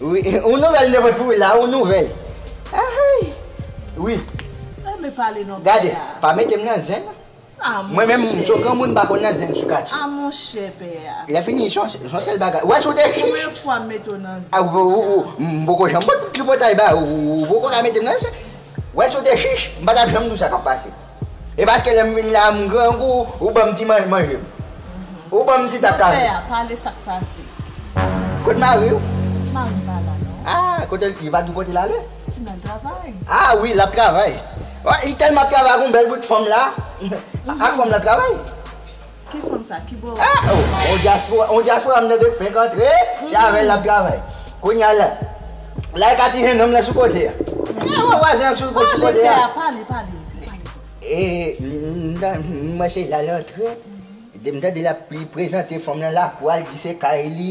Wi yon nouvèl de mwen pou wi la yon nouvèl ahay wi gade pa metem nan zen mwen menm sou granmoun pa konn nan zen sou katie lèfini son sèl bagay wè sou de chich a m poko janm pot tripotay ba ou ou poko ka metem nan zen wè sou de chich m patap janm di w sa kap pase. E paske lèm vin la m grangou ou banm ti manje manjem ou banm ti tap kafé. Koupe a pale sak pase. Kot mariw? Marim pa la non. Ah kotel t ye pa di kotel ale. Ti nèg travay. Ah wi lap travay. Li telman ap travay ak yon bèl bout fanm la ak fanm la travay. Ki fanm sa ki bo. On diaspora on diaspora m tande fenk antre se avèl lap travay kounya la la e ka ti jennonm lan sou kote a e wè vwazen an k sou kote a pale pè a pale pale e m wè se la l antre m tande lap prezante fanm lan lakou a li di se kay li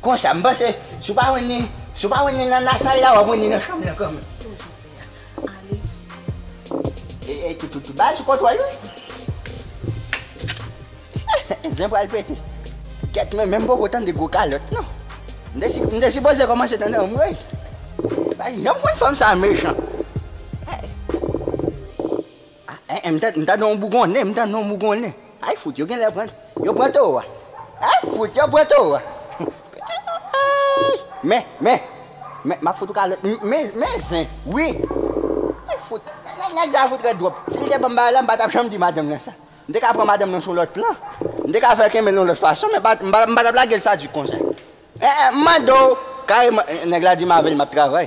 Konsa m panse si w pa jwenn li, si w pa jwenn li nan nan sal la w ap jwenn li nan chanm nan kanmenm. Toujou vle a ale sou. E toutoutoutou ba l sou kontwòl wi. Zen pral pete. Kèt mwen menm poko tande gwo kalòt non. M te sipoze kòmanse tande anmweyy. M pa janm konn fanm sa mechan. Aèèè m tande m tande yon bougonnen m tande yon bougonnen ay fout yo genlè pran yo pran towo a ay fout yo pran towo a aayy men men men map fout ou kalòt m men men zen wi ay fout nèg nèg sa fout rèd twòp si l te banm bagay la m pa tap janm di madanm nan sa m te ka pran madanm nan sou lòt plan m te ka fè l kenbe l yon lòt fason men m pa m pa tap lage l sadik konsa. Eh eh m mande w kareman eh nèg la di m avè l m ap travay.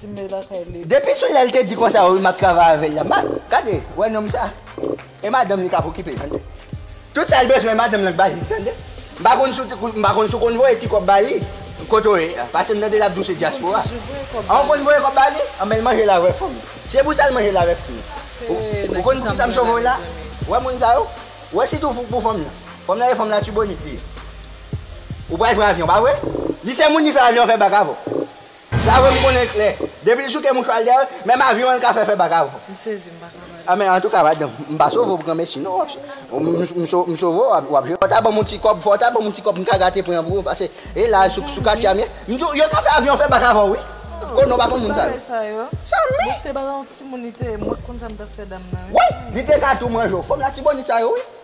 Timbe lakay li. Depi sou lèl te di konsa wi map travay avèl la ma gade wè nonm sa e madanm li kap okipe tande tout sal bezwen madanm lan k bali tande m pa konn sou m pa konn sou konn voye ti kòb bali kote w ye pasem tande lap di w se dyaspora an w konn voye kòb bali anben l manje l avè fanm se pou sa l manje l avè fanm lan ou konn poukisa m sove w la wè moun sa yo wè si tou fouk pou fanm lan fanm lan e fanm latibonit li ye ou pral pran avyon pa vre li se moun li fè avyon fè bak avè w. Sa fè m konnen klè. Depi l souke mouchwa l dèyè l, menm avyon an l ka fè fè bak avè w. M sezi m pa ka pale. A men antouka madanm, m pa sove w pou granmesi non. M sove w, w ap jwe. Fò w ta ban m yon ti kòb, fò w ta ban m yon ti kòb m ka gate pran pou ou pase e la a sou katye a m ye. M di w yo ka fè avyon fè bak avè w wi. O non m pa konn moun sa yo. Sa m ye? Woy li te ka tou manje w. Fanm latibonit sa yo wi.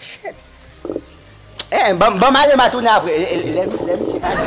Shit Eeh banm ale ma tounen apre Lè misye pale